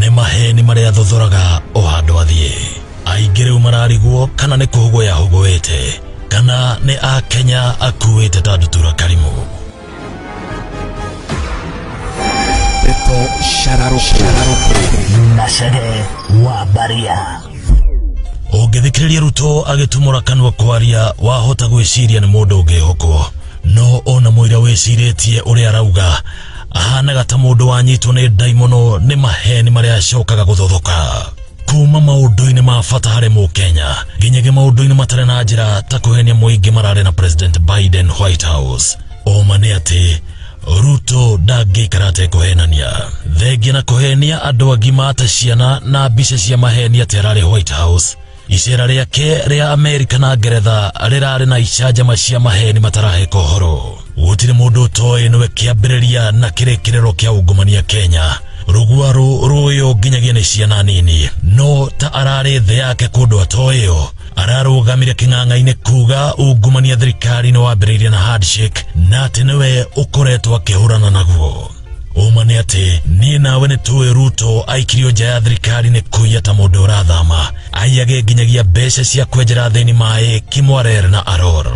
nĩ maheni marĩa athothoraga o handũ athiĩ aingĩ rĩu mararigwo kana nĩ kũhũgwo yahũgũĩte kana nĩ akenya akuĩte ta ndutura karimũ Ndeto shararũku na Shege wa Baria. ũngĩthikĩrĩria ruto agĩtumũra kanua kwaria wahota gwĩciria nĩ mũndũ ũngĩhokwo no ona mũira wĩcirĩtie ũrĩa arauga Ahanaga ta mũndũ wanyitwo nĩ ndaimono nĩ maheni marĩa acokaga gũthothoka kuma maũndũ-inĩ ma bata harĩ mũkenya nginyagia maũndũ-inĩ matarĩ na njĩra ta kũhenia mũingĩ mararĩ na president biden white house ũma nĩ atĩ ruto ndangĩikara atekũhenania thengia na kũhenia andũ agima ta ciana na mbica cia maheni atĩ ararĩ white house Icera rĩake rĩa Amerika na Ngeretha rĩrarĩ na icanjama cia maheni mataraheka ũhoro. Gũtirĩ mũndũ ũtoĩ nĩwe kĩambĩrĩria na kĩrĩkĩrĩro kĩa ungumania Kenya. Rũguarũ rũũyũ nginyagia nĩ ciana nini, no ta ararĩ thĩ yake kũndũ atoĩyo ararũgamire kĩng'ang'a-inĩ kuga ungumania thirikari-inĩ wambĩrĩirie na handshake na atĩ nĩwe ũkoretwo akĩhũrana naguo. ũma nĩ atĩ niĩ nawe nĩ tũĩ ruto aikirio nja ya thirikari nĩ kũiya ta mũndũ ũrathama aiyage nginyagia mbeca cia kwenjera thĩni maĩ kimwarer na aror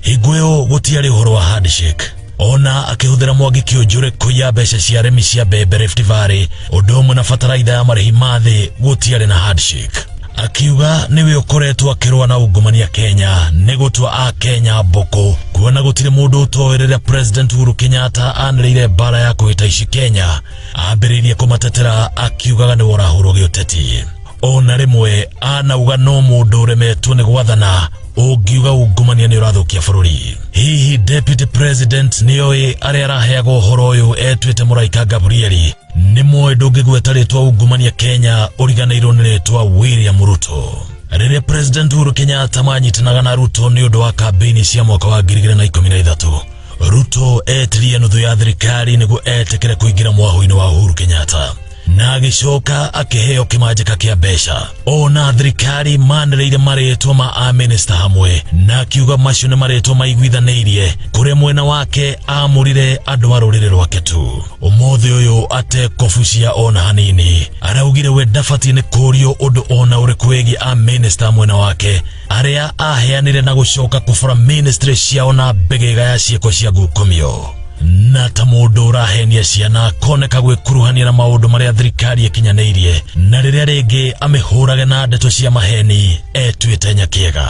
hingũyo gũtiarĩ ũhoro wa handshake ona akĩhũthĩra mwangi kĩũnjũrĩ kũiya mbeca cia arĩmi cia mbembe Rift Valley ũndũ ũmwe na bataraitha ya marĩhi ma thĩ gũtiarĩ na handshake akiuga nĩwe ũkoretwo akĩrũa na ungumania Kenya nĩ gũtua a Kenya mbũkũ kuona gũtirĩ mũndũ ũtoĩ rĩrĩa President Uhuru Kenyatta anĩrĩire mbara ya kũgita ici Kenya ambĩrĩirie kũmatetera akiugaga nĩ worahũrwo gĩũteti ona rĩmwe anauga no mũndũ ũremetwo nĩ gwathana ũngiuga ungumania nĩ ũrathũkia bũrũri hihi deputy president nĩoĩ arĩa araheagwo ũhoro ũyũ etuĩte mũraika Gabrieli nĩ mũĩ ndũngĩgweta rĩtwa ungumania kenya ũriganĩirwo nĩ rĩtwa william ruto rĩrĩa president uhuru kenyatta manyitanaga na ruto nĩ ũndũ wa kambĩini cia mwaka wa 2013 ruto etirie nuthu ya thirikari nĩguo etĩkĩre kũingĩra mwaho-inĩ wa uhuru kenyatta na agĩcoka akĩheo kĩmanjĩka kĩa mbeca ona thirikari manĩrĩire marĩtwa ma aminista hamwe na akiuga macio nĩ marĩtwa maiguithanĩirie kũrĩ mwena wake amũrire andũ a rũrĩrĩ rwake tu ũmũthĩ ũyũ atekũbucia ona hanini araugire we ndabatiĩ nĩ kũũrio ũndũ ona ũrĩkũ wĩgiĩ aminista mwena wake aria aheanire na gucoka kubura ministry ciao na mbegega ya ciĩko cia ngukumio na ta mũndũ ũrahenia ciana akoneka gwĩkuruhania na maũndũ marĩa thirikari ĩkinyanĩirie na rĩrĩa rĩngĩ amĩhũrage na ndeto cia maheni etuĩte nyakĩega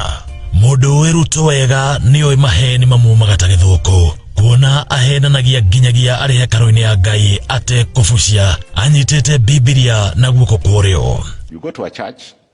mũndũ ũĩ ruto wega nĩoĩ maheni mamumaga ta gĩthũkũ kuona ahenanagia nginyagia arĩ hekarũ-inĩ ya ngai atekũbucia anyitĩte bibilia na guoko kwa ũrĩo You go to a church,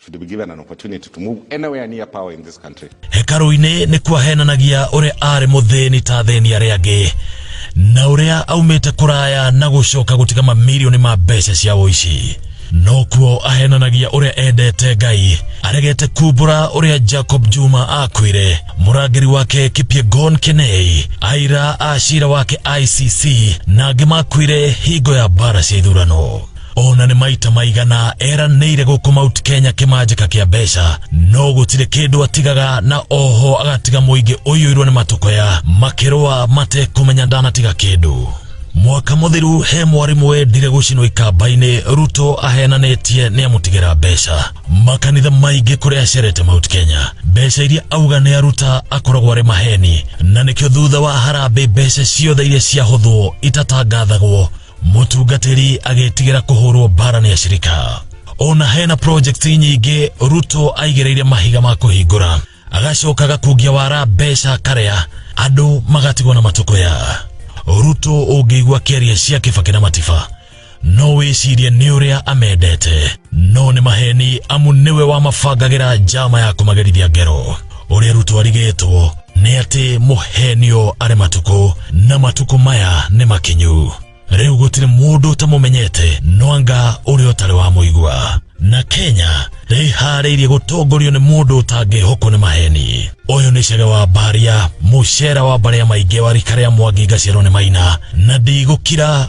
should be given an opportunity to move anywhere near power in this country. Hekaru-inĩ nĩ kwahenanagia ũrĩa arĩ mũthĩni ta athĩni arĩa angĩ na ũrĩa aumĩte kũraya na gũcoka gũtiga mamirioni ma mbeca cia ũici no kuo ahenanagia ũrĩa endete ngai aregete kumbũra ũrĩa jacob juma akwĩre mũrangĩri wake kipiegon kenei aira a cira wake icc na angĩ makwĩre hingo ya mbara cia ithurano ona nĩ maita maigana eranĩire gũkũ Mount Kenya kĩmanjĩka kĩa mbeca no gũtirĩ kĩndũ atigaga na oho agatiga mũingĩ ũiyũirwo nĩ matũkoya makĩrũa matekũmenya ndanatiga kĩndũ mwaka mũthiru he mwarimũ wendire gũcinwo ikamba-inĩ ruto ahenanĩtie nĩ amũtigĩra mbeca makanitha maingĩ kũrĩa acerete Mount Kenya mbeca iria auga nĩ aruta akoragwo arĩ maheni na nĩkĩo thutha wa harambĩ mbeca ciothe iria ciahũthwo itatangathagwo mũtungatĩri agĩtigĩra kũhũrwo mbara nĩ acirika ona hena project nyingĩ ruto aigĩrĩire mahiga ma kũhingũra agacoka gakungia wara mbeca karĩa andũ magatigwo na matũkũya ruto ũngĩigua kĩaria cia kĩbakĩ na matiba no wĩcirie nĩ ũrĩa amendete no nĩ maheni amu nĩwe wamabangagĩra njama ya kũmagerithia ngero ũrĩa rũtwarigĩtwo nĩ atĩ mũhenio arĩ matukũ na matukũ maya nĩ makinyu rĩu gũtirĩ mũndũ ũtamũmenyete no anga ũrĩa ũtarĩ wa mũigua na kenya rĩharĩirie gũtongorio nĩ mũndũ ũtangĩhokwo nĩ maheni ũyũ nĩ cege wa mbaria mũcera wa mbarĩa maingĩ wa rika rĩa mwangi ngaciarwo nĩ maina na ndigũkira